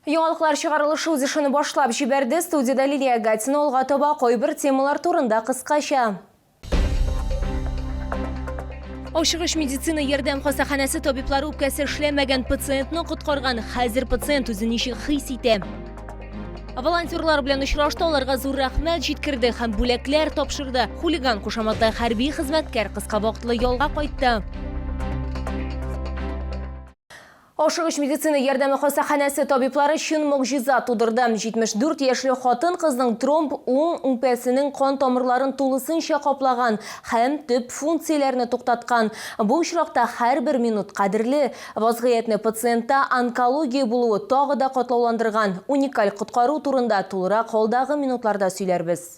Яңалыклар чыгарылышы үз эшен башлап җибәрде. Студиядә Лилия Гатина алга таба кайбер темалар турында кыскача. Ашыгыч медицина ярдәм хастаханәсе табиблары үпкәсе эшләмәгән пациентны коткарган. Хәзер пациент үзен ничек хис итә? Волонтерлар белән очрашты, аларга зур рәхмәт җиткерде һәм бүләкләр тапшырды. Хулиган кушаматлы хәрби хезмәткәр кыска вакытлы ялга кайтты. Ашыгыч медицина ярдәме хастаханәсе табиблары чын могҗиза тудырды. 74 яшьле хатын-кызның тромб уң үпәсенең кан тамырларын тулысынча каплаган һәм төп функцияләрне туктаткан. Бу очракта һәрбер минут кадерле. Вазгыятьне пациентта онкология булуы тагы да катлауландырган. Уникаль коткару турында тулырак алдагы минутларда сөйләрбез.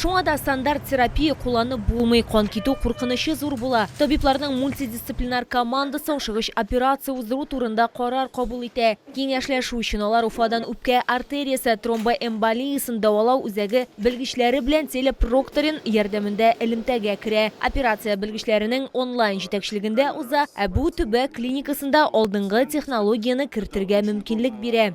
Шуңа да стандарт терапия кулланып булмый, кан китү куркынычы зур була. Табибларның мультидисциплинар командасы ашыгыч операция уздыру турында карар кабул итә. Киңәшләшү өчен алар Уфадан үпкә артериясе тромбоэмболиясен дәвалау үзәге белгечләре белән телепрокторин ярдәмендә элемтәгә керә. Операция белгечләренең онлайн җитәкчелегендә уза, ә бу төбәк клиникасында алдынгы технологияне кертергә мөмкинлек бирә.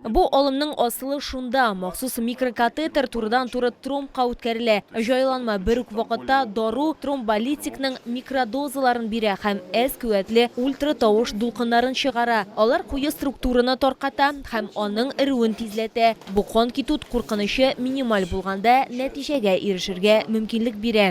Бу алымның асылы шунда, махсус микрокатетер турыдан-туры тромбка үткәрелә. Җайланма бер үк вакытта дару тромболитикның микродозаларын бирә һәм әз куәтле ультратавыш дулкыннарын чыгара. Алар куе структураны тарката һәм аның эрүен тизләтә. Бу кан китү куркынычы минималь булганда нәтиҗәгә ирешергә мөмкинлек бирә.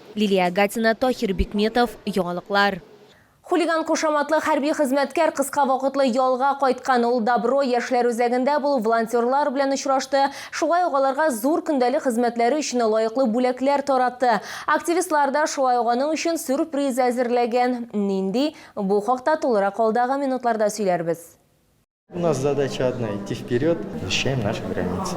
Лилия Агатина, Таһир Бикметов, Яңалыклар. Хулиган кушаматлы хәрби хезмәткәр кыска вакытлы ялга кайткан. Ул Добро яшьләр үзәгендә булып, волонтерлар белән очрашты, шулай ук аларга зур көндәлек хезмәтләре өчен лаеклы бүләкләр таратты. Активистлар да шулай ук аның өчен сюрприз әзерләгән. Нинди? Бу хакта тулырак алдагы минутларда сөйләрбез. У нас задача одна – идти вперед, защищаем наши границы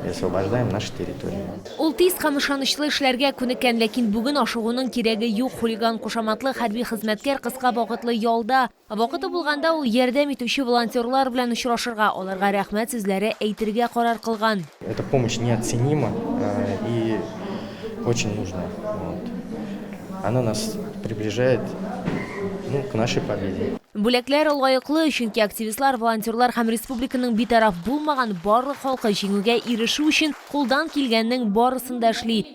и освобождаем наши территории. Ул тиз һәм ышанычлы эшләргә күнеккән, ләкин бүген ашыгуның кирәге юк. Хулиган кушаматлы хәрби хезмәткәр кыска вакытлы ялда. Вакыты булганда ул ярдәм итүче волонтерлар белән очрашырга, аларга рәхмәт сүзләре әйтергә карар кылган. Эта помощь неоценима и очень нужна. Вот. Она нас приближает ну, к нашей победе. Бүләкләр лаеклы, чөнки активистлар, волонтерлар һәм республиканың битараф булмаган барлык халкы җиңүгә ирешү өчен кулдан килгәннең барысын да эшли.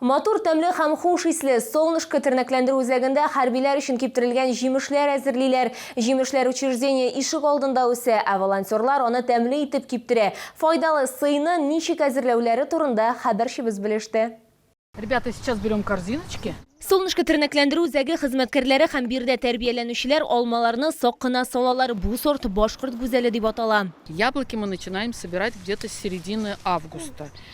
Матур, тәмле һәм хуш исле Солнышко тернәкләндерү үзәгендә хәрбиләр өчен киптерелгән җимешләр әзерлиләр. Җимешләр учреждение ишек алдында үсә, ә волонтерлар аны тәмле итеп киптерә. Файдалы сыйны ничек әзерләүләре турында хәбәрчебез белеште. Ребята, сейчас берем корзиночки. Солнышко тернәкләндерү үзәге хезмәткәрләре һәм биредә тәрбияләнүчеләр алмаларны сак кына салалар, бу сорт башкорт гүзәле дип атала. Яблоки мы начинаем собирать где-то с середины августа.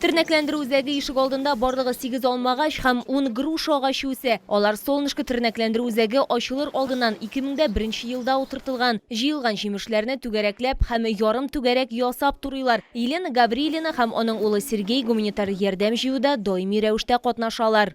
Тернәкләндерү үзәге ишегалдында барлыгы сигез алма агач һәм ун груша агачы үсә. Алар Солнышко тернәкләндерү үзәге ачылыр алдыннан ике мең дә беренче елда утыртылган. Җыелган җимешләрне түгәрәкләп һәм ярым түгәрәк ясап турыйлар. Елена Гаврилина һәм аның улы Сергей гуманитар ярдәм җыюда даими рәвештә катнашалар.